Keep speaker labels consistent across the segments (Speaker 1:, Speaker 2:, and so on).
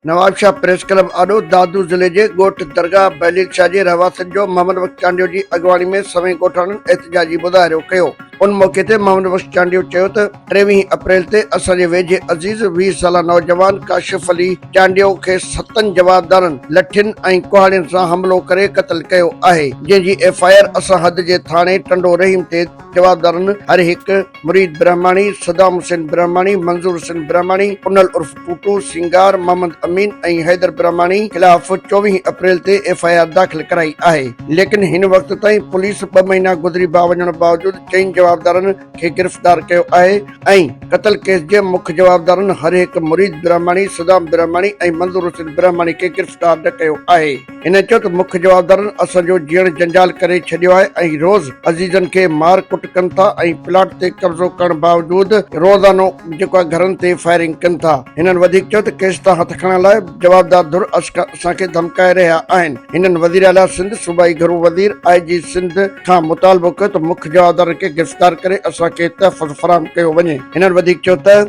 Speaker 1: Nawabshah press club آڏو دادو ضلعي جي ڳوٺ درگاهه بهليل شاهه جي رهواسين جو محمد بخش چانڊيو جي اڳواڻي ۾ سوين ڳوٺاڻن احتجاجي مظاهرو ڪيو ان موقعي تي محمد بخش چانڊيو چيو ته ٽيويهين اپريل تي اسان جي ويجهي عزيز ويهه سالا نوجوان ڪاشف علي چانڊيو کي ستن جوابدارن لٺين ۽ ڪهاڙين سان حملو ڪري قتل ڪيو آهي جنهن جي ايف آء آر اسان حد جي ٿاڻي ٽنڊو رحيم تي جوابدارن هر هڪ، مريد برهماڻي، صدام حسين برهماڻي، منظور حسين برهماڻي، پنل عرف ٽوٽو، سينگار، محمد امين ۽ حيدر برهماڻي خلاف چوويهه اپريل تي ايف آء آر داخل ڪرائي آهي ليڪن هن وقت تائين پوليس ٻه مهينا گذري با وڃڻ باوجود چئن جوابدارن کي گرفتار ڪيو آهي ۽ قتل ڪيس جي مک جوابدارن هر هڪ مريد برهماڻي، صدام برهماڻي ۽ منظور حسين برهماڻي کي گرفتار نه ڪيو آهي. هن چيو ته مک جوابدارن اسان جو جيئڻ جنجال ڪري ڇڏيو آهي ۽ روز عزيزن کي مار ڪٽ ڪن ٿا ۽ پلاٽ تي قبضو ڪرڻ باوجود روزانو جيڪو آهي گهرن تي فائرنگ ڪن ٿا. هنن وڌيڪ چيو ته ڪيس تان هٿ کڻڻ لاء جوابدار ڌر اسان کي ڌمڪائي رهيا آهن. هنن وزيراعليٰ سنڌ، صوبائي گهرو وزير، آء جي سنڌ کان مطالبو ڪيو ته مک جوابدارن کي گرفتار ڪري اسان کي تحفظ فراهم ڪيو وڃي. هنن وڌيڪ چيو ته.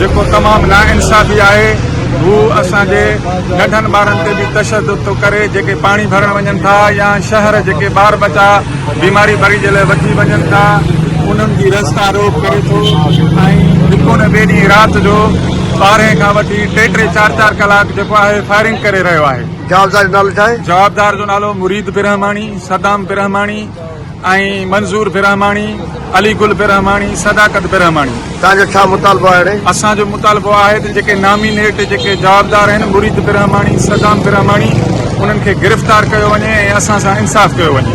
Speaker 2: جيڪو تمام ناانصافي آهي هو اسان جي ننڍن ٻارن تي به تشدد ٿو ڪري جيڪي پاڻي ڀرڻ وڃن ٿا يا شهر جيڪي ٻار ٻچا بيماري بري جي لاء وٺي وڃن ٿا انهن جي رستا روڪ ڪري ٿو ۽ هڪ نه ٻي ڏينهن رات جو ٻارهين کان وٺي ٽي ٽي چار چار ڪلاڪ جيڪو آهي فائرنگ ڪري رهيو آهي جوابدار جو نالو ڇا آهي
Speaker 1: جوابدار جو نالو مريد
Speaker 2: برهماڻي صدام برهماڻي ۽ منظور برهماڻي، علي گل برهماڻي، صداقت برهماڻي. توهان جو ڇا مطالبو
Speaker 1: آهي اڙي؟ اسان جو مطالبو
Speaker 2: آهي ته جيڪي نامينيٽ جيڪي جوابدار آهن مريد برهماڻي، صدام برهماڻي انهن کي گرفتار ڪيو وڃي ۽ اسان سان انصاف ڪيو وڃي.